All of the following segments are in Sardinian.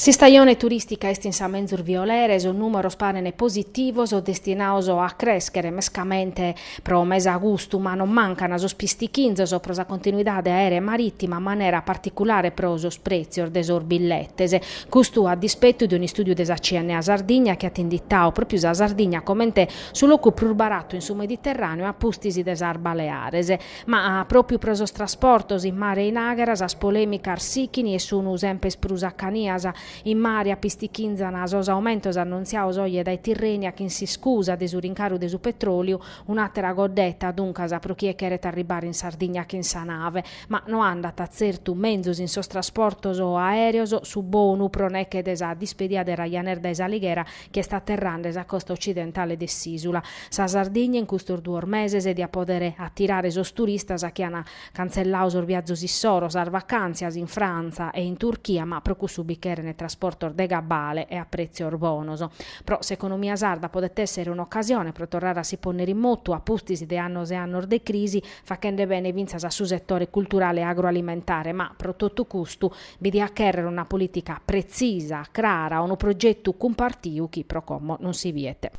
S'istajone turìstica est in sa menzus violera e sos nùmeros parent positivos, destinados a crèschere mescamente pro mes agustu, ma non mancant sos pistichinzos pro sa continuidade aèrea e marìtima, manera particulare pro sos prètzios de sos billetes. Custu a dispettu de un'istùdiu de sa CNA Sardigna chi at inditadu pròpiu sa Sardigna comente su locu prus baratu in su Mediterràneu a pustis de sas Baleares. Ma pròpiu pro sos trasportos in mare e in àghera sas polèmicas sichint e sun semper prus acanias. In mare apistichinzan sos aumentos annontziados oje dae Tirrenia chin s'iscusa de su rincaru de su petròliu, un'àtera coddeta, duncas, pro chie cheret arribbare in Sardigna chin sa nave. Ma no andat tzertu menzus in sos trasportos aèreos su bonu pro neche de sa dispedia de Ryanair dae s'Alighera chi est aterrande sa costa ocidentale de s'ìsula. Sa Sardigna in custos duos meses diat pòdere atirare sos turistas chi ant cantzelladu sos viazos issoro, sas vacàntzias in Frantza e in Turchia, ma pro cussu bi cherent trasportos de cabale e a prètzios bonos. Pro s'economia sarda podet èssere un'ocasione pro torrare a si pònnere in motu a pustis de annos e annos de crisi, faghende bene fintzas a su setore culturale e agroalimentare, ma pro totu custu Bi diat chèrrere una polìtica pretzisa, crara, unu progetu cumpartiu chi pro como non si biet.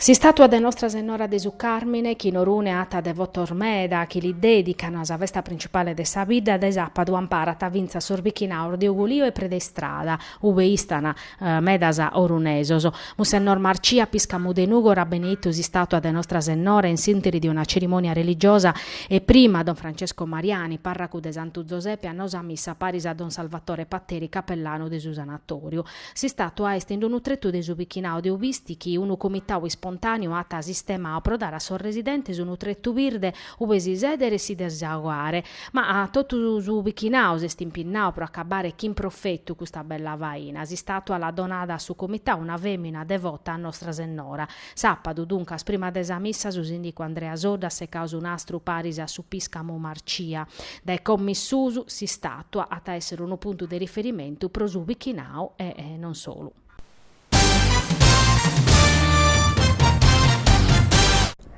S'istàtua de Nostra Sennora de su Càrmine, chi in Orune at devotos meda chi li dèdicant sa festa principale de sa bidda dae sàpadu, amparat fintzas sos bichinados de Ugolìo e Predistrada, Ube istan medas orunesos. Munsennor Marcia pìscamu de Nùgoro at beneitu s'istàtua de Nostra Sennora in s'interi de una cerimònia religiosa e prima don Francesco Mariani, pàrracu de Santu Zosepe at nau sa missa paris a don Salvatore Patteri capellanu de su sanatòriu. S'istàtua est in d'unu tretu de su bichinadu de Ubisti chi unu comitadu ispontàniu at sistemadu pro dare a sos residentes unu tretu birde Ube si seder si desaogare. Ma totu su bichinau s'est impinnau pro acabare chin profetu custa bella faina. S'istatua l'at donada a su comitau una femina devota a Nostra Sennora. Sapadu, duncas, prima de sa missa su sindicu Andrea Soddu at secau su nastru paris a su piscamu Marcia. Dae como in susu, s'istatua at a esser unu puntu de riferimentu pro su bichinau e non solu.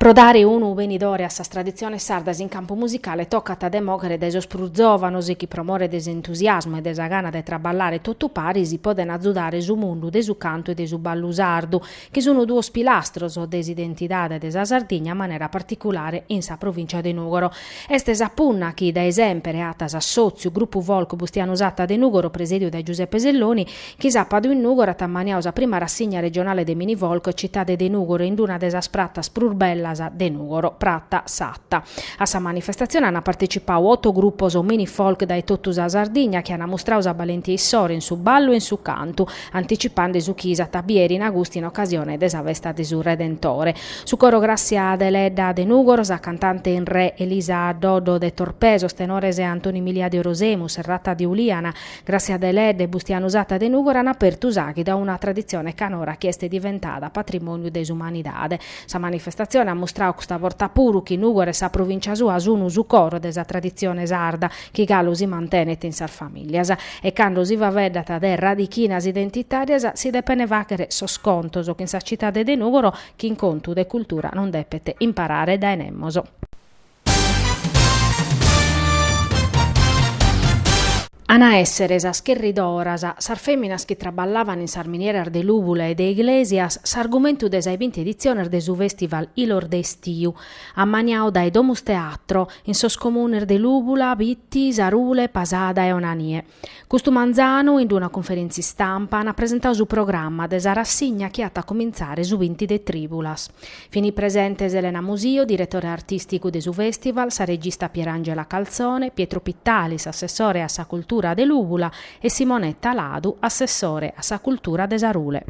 Pro dare unu benidore a sas traditziones sardas in campu musicale tocat de mòghere dae sos prus zòvanos chi pro more de s'entusiasmu e de sa gana de traballare totu paris podent azudare su mundu de su cantu e de su ballu sardu chi sun duos pilastros de s'identidade de sa Sardigna manera particulare in sa provìncia de Nùgoro. Est sa punna chi dae semper at s'assòtziu Grupu Folk Bustianu Satta de Nùgoro presèdiu dae Giuseppe Selloni Chi sapadu in Nùgoro at ammaniadu sa prima rassigna regionale de minifolk Citade de Nùgoro in d-una de sas pratas prus bellas de Nùgoro, Prata Satta. A sa manifestatzione ant partecipadu oto grupos minifolk dae totu sa Sardigna chi ant mustradu sa balentia issoro in su ballu e in su cantu, anticipande su chi s'at a biere in agustu in ocasione de sa festa de su Redentore. Su coro Gràssia Deledda de Nùgoro, sa cantante in re Elisa Doddo de Torpè, sos tenores Antoni Milia de Orosei, Musserrata de Uliana, Gràssia Deledda e Bustianu Satta de Nùgoro an apertu s'àghidu a una traditzione canora chi est diventada patrimòniu de s'umanidade. Sa manifestatzione at mustradu custa borta puru chi Nùgoro e sa provìncia sua sunt su coro de sa traditzione sarda chi galu si mantenet in sas famìlias. E cando si faeddant de radichinas identitàrias si depent fàghere sos contos chin sa citade de Nùgoro chi in contu de cultura non depet imparare dae nemos. An a èssere sas cherridoras, sas fèminas chi traballavan in sas minieras de Lùbula e de Iglesias, s'argumentu de sa 'e binti editziones de su fèstival Ilos de Estiu, ammaniadu dae Domus Teatro in sos comunes de Lùbula, Bitti, Sarule, Pasada e Onanie. Custu manzanu, in una cunferèntzia istampa, ant presentau su programma de sa rassigna chi at a comintzare su binti de Tribulas. Fini presentes Elena Musio, diretore artisticu de su festival, sa regista Pierangela Calzone, Pietro Pittalis, assessore a sa cultura de Lùbula e Simonetta Ladu, assessore a sa cultura de Sarule.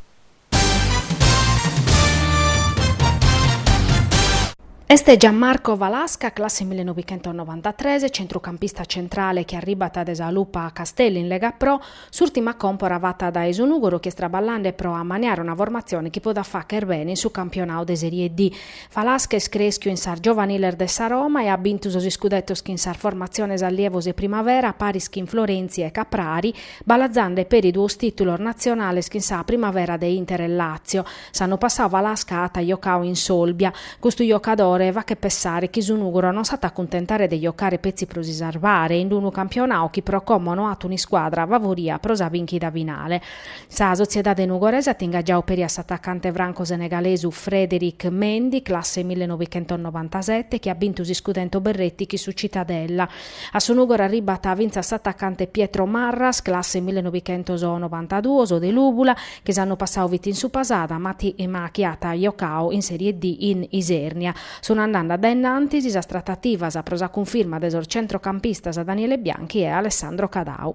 Est Gianmarco Falasca, classe millenovichentosnovantatres, centrucampista centrale chi arribat de sa Lupa Castelli in Lega Pro, s'ùrtima còmpora fata dae su Nùgoro chi est traballande pro ammaniare una formatzione chi podat fagher bene in su campionadu de Serie D. Falasca est crèschiu in sas giovaniles de sa Roma e at bintu sos iscudetos chin sas formatziones Allievos e Primavera, paris chin Florenzi e Caprari, Balazande peri duos tìtulos natzionales chin sa Primavera de Inter e Làtzio. S'annu passadu Falasca at jocadu in s'Olbia. Custu jocadore faghet pensare chi su Nùgoro non s'at a cuntentare de jocare petzi pro si sarvare in unu campionadu chi pro como no at un'iscuadra favoria pro sa bìnchida finale. Sa sotziedade nugorese at ingagiadu peri a s'atacante franco-senegalesu Frédéric Mendy, classe millenovichentosnovantasete, chi at bintu s'iscudetu Berretti chin su Cittadella, A su Nùgoro arribat fintzas s'atacante Pietro Marras, classe millenovichentosnovantaduos, de Lùbula, chi s'annu passadu fit in su Pasada, ma chi at jocadu in Serie D in Isèrnia. Sunt andande a dae in antis sas tratativas pro sa cunfirma de sos centrocampistas Daniele Bianchi e Alessandro Cadau.